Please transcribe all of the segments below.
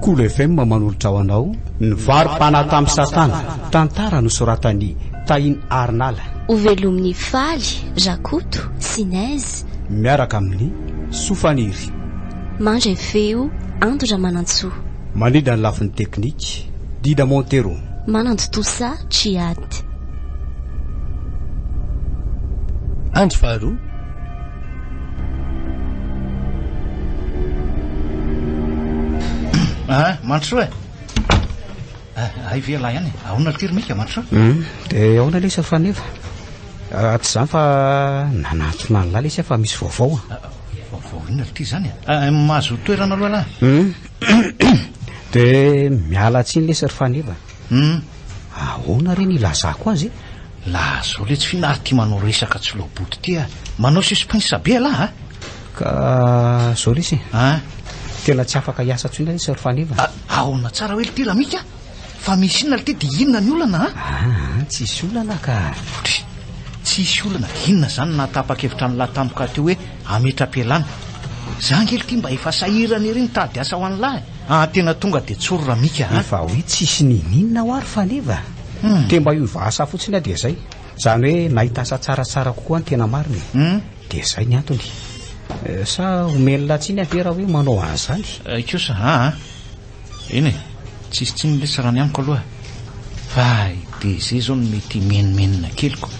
Kolo FM manolotra ho anao ny vary fanahy tamin'i Satana, tantara nosoratan'i Tahin Arnala. Ho velomin'i Faly, Rakoto, sy Nez. Miaraka amin'ny Soa Faniry. Mandray feo, Ando Ramanantsoa. Manidina ny lafiny teknika, Dida Montero. Manantontosa Tchiad. Andro faharoa. Ah, Mandrosoa eh. Ah, hay ve ialahy ihany eh. Ahoana ity ry Mika, Mandrosoa? Hum, dia ahoana lesy Faneva? Ah, tsy izany fa nanantona an'lah lesy aho fa misy vaovao. Ah, ah, vaovao inona ity izany eh? Ah, mahazo toerana aloha lah. Hum, De miala tsiny lesy ry Faneva. Hum. Ahoana re ny ilazako azy e? Lazao letsy fina ary tia manao resaka tsy loha boto ity a. Manao suspense be ialahy a. Ka zao lesy e. An? Tena tsy afaka hiasa intsony lesy ry Faneva. Aona tsara hoe lty Ramika? Fa misy inona ity dia inona ny olana a? Ah, ah tsisy olana ka. Otry, tsisy olana dia inona izany nahatapa-kevitra an'lah tampoka teo hoe hametra-pialana. Za ngely ity mba efa sahirana ery nitady asa ho an'lah e. Ah, tena tonga dia tsory Ramika a. Efa hoe tsisy niniana ho ary faneva. Hmm. Te mba hiova asa fotsiny aho dia izay. Izany hoe nahita asa tsaratsara kokoa ny tena marina e. Hmm. Dia izay ny antony. Eh, sa omen'lah tsiny aho ve raha hoe manao an'izany? Eh, kosa, ah, ah. Eny e, tsisy tsiny lesy raha ny amiko aloha fa i DG zao no mety himenomenona kely ko.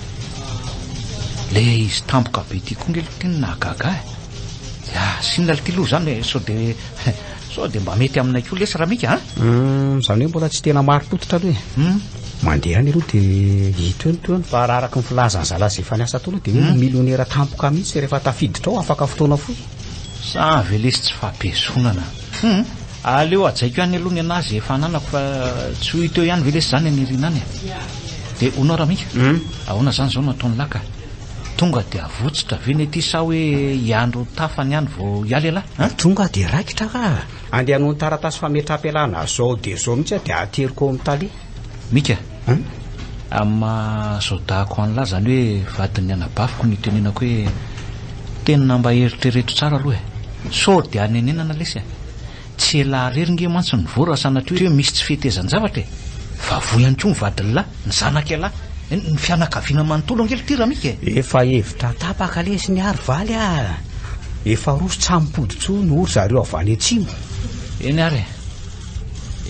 Le izy tampoka be ty ko nge aloha ty no nahagaga ahy. Ya, sinona aloha ty loha zany e, sao de sao de mba mety aminay ko lesy Ramika a. Hum, zany hoe mbola tsy tena marim-pototra aloha e. Hum. Mandeha any aloha de hita eo ny toeany fa raha araka ny filazan'i zalahy ze efa niasa tao aloha de hoe ho milionera tampoka mihitsy rehefa tafiditra ao afaka fotoana fohy. Sa ve lesy tsy fampihezonana? Humm aleo ajaiko ihany aloha ny anah ze efa ananako fa tsy ho hita eo ihany ve lesy zany any aoriana any a! de hono ary aminga? Humm ahoana zany zao no ataon'i lah ka! tonga de avotsitra ve ny aty sa hoe hiandry ho tafa ny any vao hiala elah a! Tonga de raikitra ka! andeha hanohy ny taratasy fametraham-pialana zao de zao mihitsy aho de ateriko ao amin'ny tale. Mika a! Amin'ny maha Sodako an'lah zany hoe vadin'ny anabaviko no itenenako hoe tena mba eritrereto tsara aloha e! Sao dia hanenenana lesy e! Tsy elah rery nge mantsy ny voa raha sanatria hoe misy tsy fetezan-javatra e! Fa voa ihany koa ny vadin'lah, ny zanak'ialahy, eny, ny fianakaviana manontolo ange ity Ramika e! Efa hevitra tapaka lesy ny ary valy a! Efa roso tsy hampody intsony hoy ry zareo avy any atsimo. Eny ary e!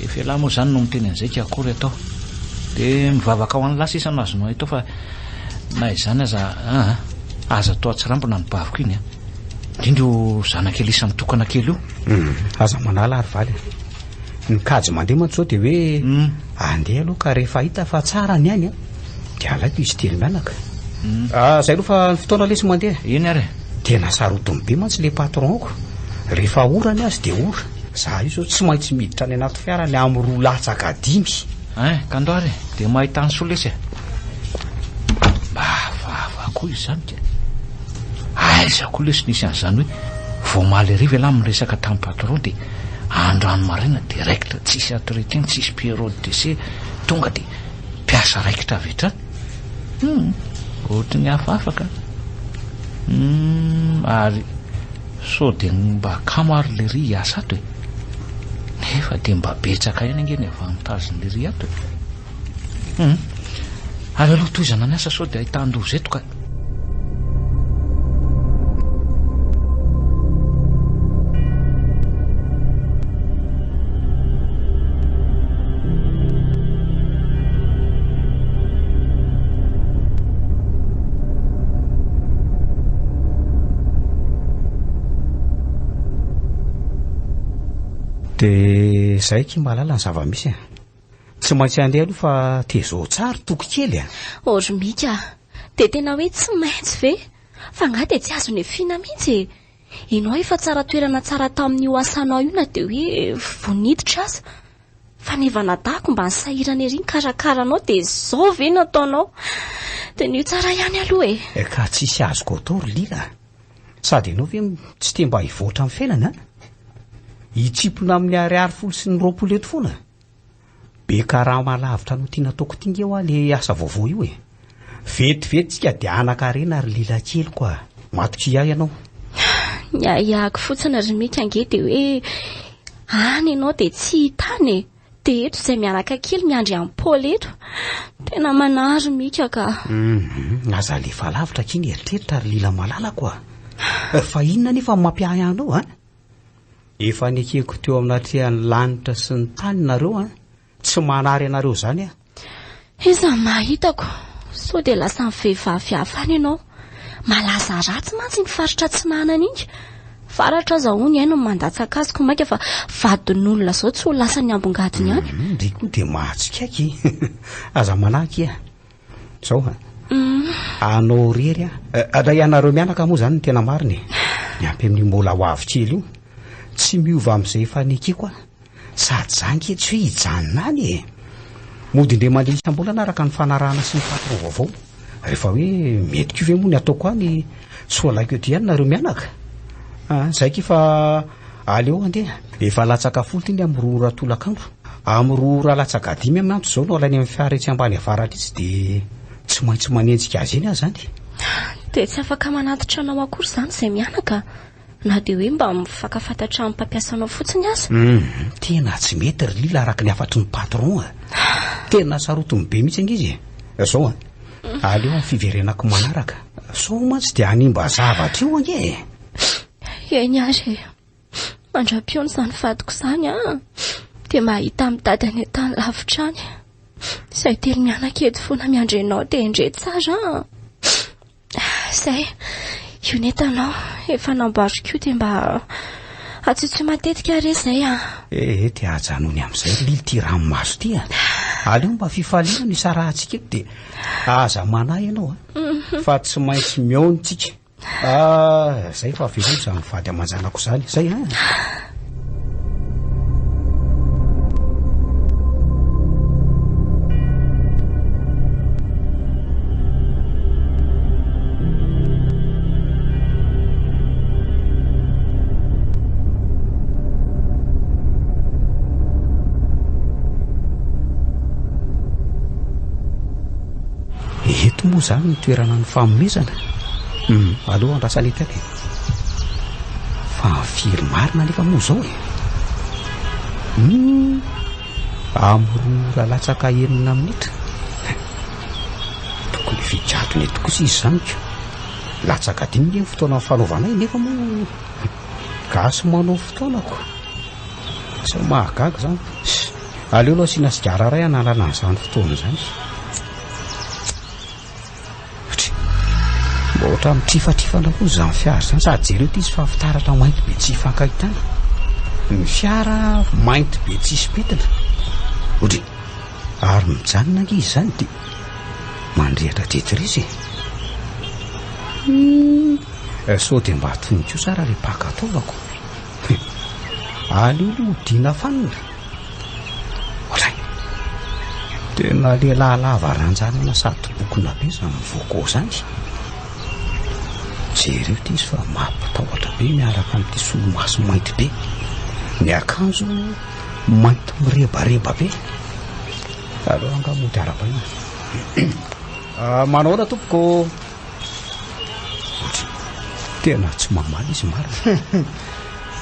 Efa elah moa zany no miteny an'izay tsy akory atao de mivavaka ho an'lah sisa no azonao atao fa na izany aza aa aza atao atsirambina ny baviko iny an! indrindra io zanaka elisa mitokana kely io! Hum aza manala ary valy an! ny kajy mandeha mantsy zao de hoe andeha aloha ka rehefa hita fa tsara ny ainy an! de alaiko izy telo mianaka! ah zay aloha fa ny fotoana lesy mandeha! Eny ary e! tena sarotiny be mantsy le patron-ko rehefa ora ny azy de ora! Za io zao tsy maintsy miditra any anaty fiara ny amin'ny roa latsaka dimy. Hein, Kandoara e, dia mahita an'i Solesy e. Mba vava koa izany ka. Aiza koa lesy nisy an'izany hoe vao omaly hariva ialahy miresaka tamin'ny patron dia androany maraina direct tsisy entretien, tsisy période d'essai, tonga dia mpiasa raikitra avy hatrany. Hum, ohatry ny hafahafa ka. Hum, ary Sao dia ny mba akama ary ilay ry hiasa ato e? Nefa dia mba betsaka ihany ange ny avy mitazona ilay ry ato e? Humm. Ary aleo tohizana ny asa sao dia ahitan-doza eto ka. Dia izay ky mahalala ny zava-misy e. Tsy maintsy handeha aloha fa tezao tsara toky kely e. Ory Mika, dia tena hoe tsy maintsy ve? Fa angaha dia tsy azon'ny Fina mihitsy e. Ino ahy fa tsara toerana tsara tamin'io asanao io na dia hoe vao niditra aza. Fanevana dahako mba nisahirana ery nikarakara anao dia izao ve no ataonao. Tenio tsara ihany aloha e! Ka tsisy azoko atao ry Lila a! Sady ianao ve tsy te mba hivoatra amin'ny fiainana a! Hitsimpona amin'ny ariary folo sy ny roapolo eto foana a! Be karama alavitra no tiana ataoko ty nge hoa le asa vaovao io e! Vetivety tsika de hanakarena ry Lila keliko a! Matokia ianao. Ny ahiahiko fotsiny ry Mika ange de hoe any ianao de tsy hita any e! De eto izay mianaka kely miandry an'i Paul eto. Tena manahy ry Mika ka. Hum, aza alefa alavitra akia ny eritreritra ry Lila malalako a! Fa inona anefa no mampiahy anao an? Efa nekeko teo amin'atrehan'ny lanitra sy ny tany nareo an! Tsy manary anareo izany aho. Iza ny maha hitako? Sao dia lasan'ny vehivavy hafa any ianao? Malaza ratsy mantsy iny faritra atsinanana iny. Varatra aza hono ihay no mandatsaka azy koa mainka fa vadin'olona izao tsy ho lasan'ny ambongadiny any. Dia koa dia mahatsikaiky e! Aza manahaka e! Zao a. Anao irery a. Raha ianareo mianaka moa zany ny tena marina e. Miampy amin'io mbola ho avy kely io. Tsy miova amin'izay efa nekeko a. Sady za ange tsy hoe hijanona any e. Mody indray mandeha isam-bolana araka ny fanarahana sy ny patron vaovao. Rehefa hoe mety koa ve moa ny ataoko any? Tsy ho alahiko ety ihany nareo mianaka? Zay k'efa Aleo andeha, efa latsaka folo ity ny amin'ny roa ora tolakandro. Amin'ny roa ora latsaka dimy amin'ny antso izao no alainy amin'ny fiara etsy Ambaniavara Leitsy dia tsy maintsy manenjika azy eny aho izany. Dia tsy afaka manatitra anao akory izany izay mianaka na dia hoe mba mifakafantatra amin'ny mpampiasanao fotsiny aza. Hum, tena tsy mety ry Lila araka ny hafatry ny patron a! Tena sarotiny be mihitsy ange izy e! Izao an! Aleo amin'ny fiverenako manaraka. Sao mantsy dia hanimba zavatra eo ange e! Eny ary e. Mandra-pihaona izany vadiko izany an, dia mahita amin'ny dady any an-tany lavitra any. Izay telo mianaka eto foana miandry anao dia endrey tsara an. Izay, io ny entanao efa namboariko io dia mba atsotsoy matetika re izay an. Ee, dia ajanony amin'izay lily ity ranomaso ity an. Aleo mba fifaliana no isarahantsika eto dia aza manahy ianao an. Fa tsy maintsy mihaona isika. Ah, zay fa avelao izany vady aman-janako izany, zay an. Eto moa izany ny toerana ny fanomezana. Humm allo andrasanetaka e! Fa very marina nefa moa zao e! Humm am roa ora latsaka enina minitra tokony efa hijadona eto kosa izy zany ka! Latsaka dimy nge ny fotoana fanaovanay nefa moa gasy manao fotoana ko! Sao mahagaga zany! Aleo aloha asiana sigara iray hanalana an'izany fotoana izany e! Try! Mba ohatran'ny trifatrifana koa izany fiara izany sady jereo ity izy fa fitaratra mainty be tsy ifankahitana. Ny fiara mainty be tsisy pentina. Odry! Ary mijanona ange izy izany dia mandrehitra Tetris e! Eh, sao dia mba toniko sara ilay paka ataovako. Aleo aloha hodiana fanina. Ohatran'ny tena lehilahy lava ranjanana sady bokona be izany Voco izany. Jereo ity izy fa mampitahotra be miaraka amin'ity solomaso mainty be. Ny akanjo mainty mirebareba be. Aleo angamba ho tarabaina. Ah, manahoana tompoko? Tena tsy mamaly izy marina.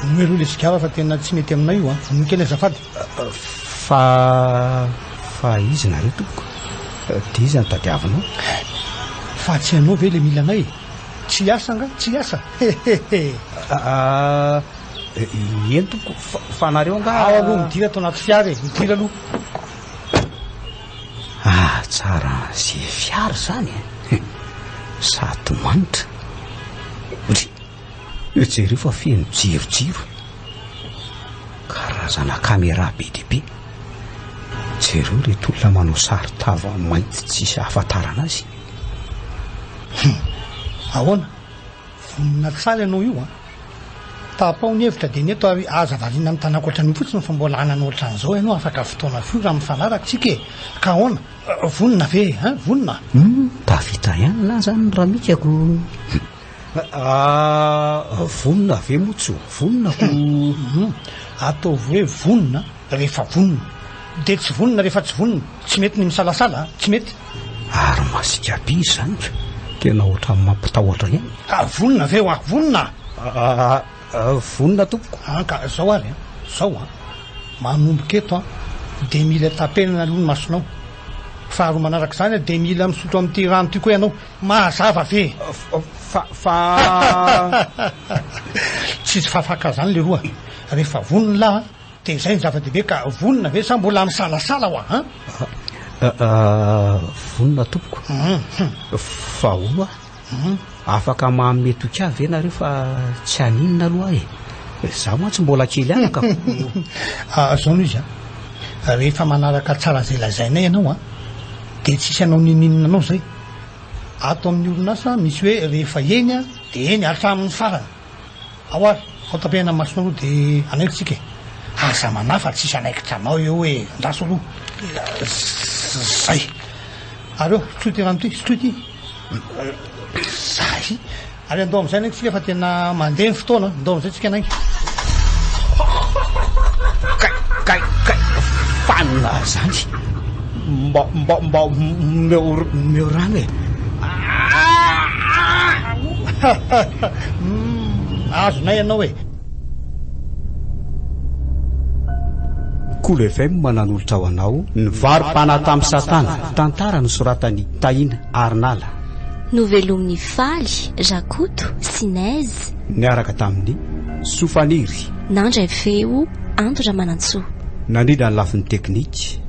Vonoy aloha ilay sigara fa tena tsy mety aminay io a. Vonoy kely azafady. Fa fa izy nareo tompoko. Dia iza no tadiavinao? Fa tsy ianao ve ilay mila anay? Tsy hiasa nga? Tsy hiasa? Hehehe. Eny tompoko. Fa nareo nga? Ao aloha midira ato anaty fiara e. Midira aloha. Ahatsara zefy ary zany e! Sady manitra. Ry! Io jereo io fa feno jirojiro. Karazana camera be dia be. Jereo ireto olona manao sary tava mainty tsisy ahafantarana azy. Hum! Ahoana? Vonona tsara ianao io a! Tapaho ny hevitra dia ny eto ary aza variana mitana ankoatran'io fotsiny fa mbola hanana ohatran'izao ianao afaka fotoana fohy raha mifanaraka tsika e! Ka ahoana? Vonona ve e? Hein? Vonona? Hum! Tafita ihany lahy zany ny ramikako! Hum! Vonona ve moa tsy ho vonona ko! Hum! Ataovy hoe vonona! rehefa vonona, dia tsy vonona rehefa tsy vonona, tsy mety ny misalasala, tsy mety. Ary masika be izany ka! Tena ohatran'ny mampitahotra ihany. Ka vonona ve hoa? Vonona? Vonona tompoko. An ka zao ary an! Zao an! Manomboka eto an! Dia mila tapenana aloha ny masonao. Faharoa manaraka izany dia mila misotro amin'ity rano ity koa ianao. Mahazava ve? Fa, fa. Tsisy fafaka izany leroa rehefa vonona an! Dia izay no zava-dehibe ka vonona ve sa mbola misalasala hoa an? Vonona tompoko. Fa ho'a? Afaka manome tokia ve nareo fa tsy haninona aloha ahy e? Za mantsy mbola kely ihany ka. Zao no izy an, rehefa manaraka tsara izay lazainay ianao an, dia tsisy hanao ninininona anao izay. Ato amin'ny orinasa misy hoe rehefa eny dia eny hatramin'ny farany. Ao ary, ao tapehana masonao aloha dia hanaiky tsika e! Aza manahy fa tsisy hanaikitra anao eo hoe andraso aloha zay! Ary eo, sotroy ity rano ity, sotroy ity! Zay! Ary andao amin'izay hanaiky tsika fa tena mandeha ny fotoana an! Andao amin'izay tsika hanaiky! Kay! Kay! Kay! Fanina zany! Mba mba mba omeo omeo rano e! Aah! Azonay ianao e! Cool FM nanolotra ho anao ny vary pana tamin'i Satana, tantara nosoratan'i Tahina ary Nala. Novelomin'i Faly, Rakoto sy Nez. Niaraka tamin'i Soa Faniry. Nandray feo Ando Ramanantsoa. Nandrindra ny lafiny teknika.